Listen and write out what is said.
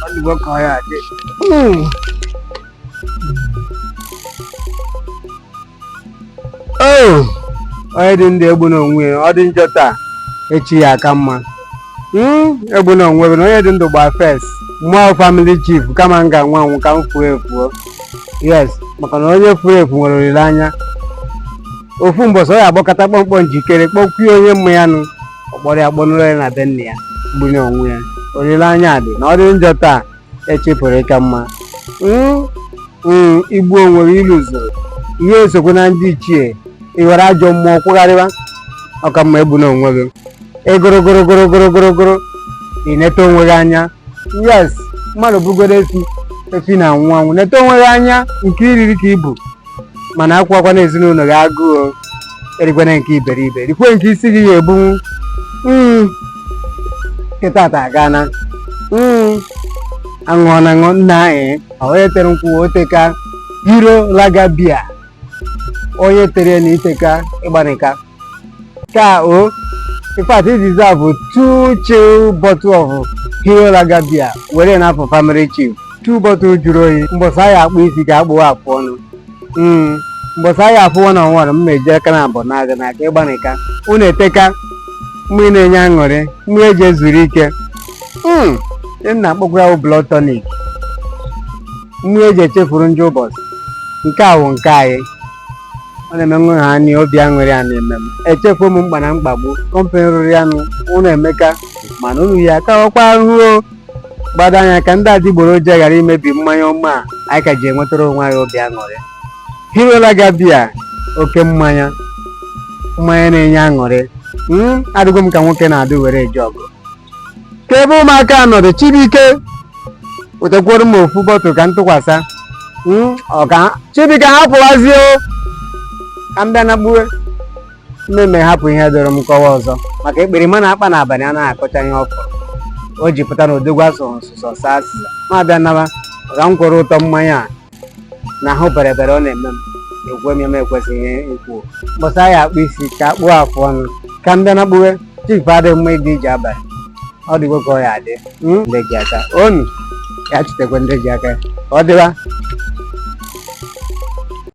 ọ dịgo ka ọ ya adị oo onye dị ndụ egbuna onwe ya ọ dị njọ taa echi ya aka mma Mm, egbuna onwe bụ na onye dị ndụ gba fes mmụọ family chief kama m ga-anwụ anwụ ka m fuo efuo yes maka na onye furu efu nwere olileanya ofu mbọsị ọ ya agbakọta kpọmkpọ njikere kpọkwuo onye mma ya nụ ọ kpọrọ ya kpọnụrụ ya na be nna ya gbuna onwe ya olileanya dị na ọ dị njọ taa echi pụrụ ịka mma Mm, mm, i gbuo onwe gị ilu zuru ihe esokwe na ndị ichie ị ghọrọ ajọ mmụọ kwụgharịwa ọ ka mma egbuna onwe gị egoro goro goro goro goro goro ị neta onwe gị anya yes mmadụ bụgodu efi efi na-anwụ anwụ neta onwe gị anya nke i riri ka ibu mana akwụkwakwana ezinụlọ gị agụụ erikwana nke iberibe rikwe nke isi gị ya ebunwu hmm. kịtaata agana hmm. aṅụọ na aṅụ nna anyị onye tere nkwụ o teka Hero lager beer onye tere na i teka ị gbanịka ka o in fact this deserve two chill bottle of Hero lager beer were na afọ family chief two bottle juru oyi mbọsị a ya akpụ isi ka akpụ afụ ọnụ Mm, mbọsị anyị afụ one on one m eji aka naabọ naa gị n'aka ị gbanịka unu eteka mmiri na-enye aṅụrị mmiri eji ezuru ike Mm, ihe m na-akpọkwa ya bụ blood tonic mmiri eji echefuru njọ ụbọchị nke a wụ nke anyị ọ na-eme nwa ha anyị obi aṅụrị ọ na-eme m echefuo mkpa na mkpagbu kọmpanị rụrụ ya nụ unu emeka mana unu ya kawakwa ahụhụ o. gbado anya ka ndị adịgboroja ghara imebi mmanya ọma a anyị ka ji enwetara onwe anyị obi aṅụrị Hero Lager beer oke mmanya mmanya na-enye aṅụrị hmm, adịgo m ka nwoke na-adị were eje ọgụ ka ebe ụmụaka nọdụ Chibuike wetakwuru m ofu bottle ka m tụkwasa hmm, ọka Chibuike hapụwazie ka m bịa na gbuwe mmemme hapụ ihe doro m kọwa ọzọ maka ekperima na-akpa n'abalị a na-akọcha ihe ọkụ o ji pụta na odogwu asụrụ nsụsọ saa asịsa ma bịa naba ka m kwuru ụtọ mmanya a na ahụ bere bere ọ na-eme m ekwuo ihe m ekwesịghị ikwu mbọsị a ya akpụ isi ka akpụ afụ ọnụ ka m bịa na kpuwe chief adịghị mma ịga ije abalị ọ dịgo ka ọ ya adị hmm? ndị ji aka onu ya chutekwa ndị ji aka ka ọ dịwa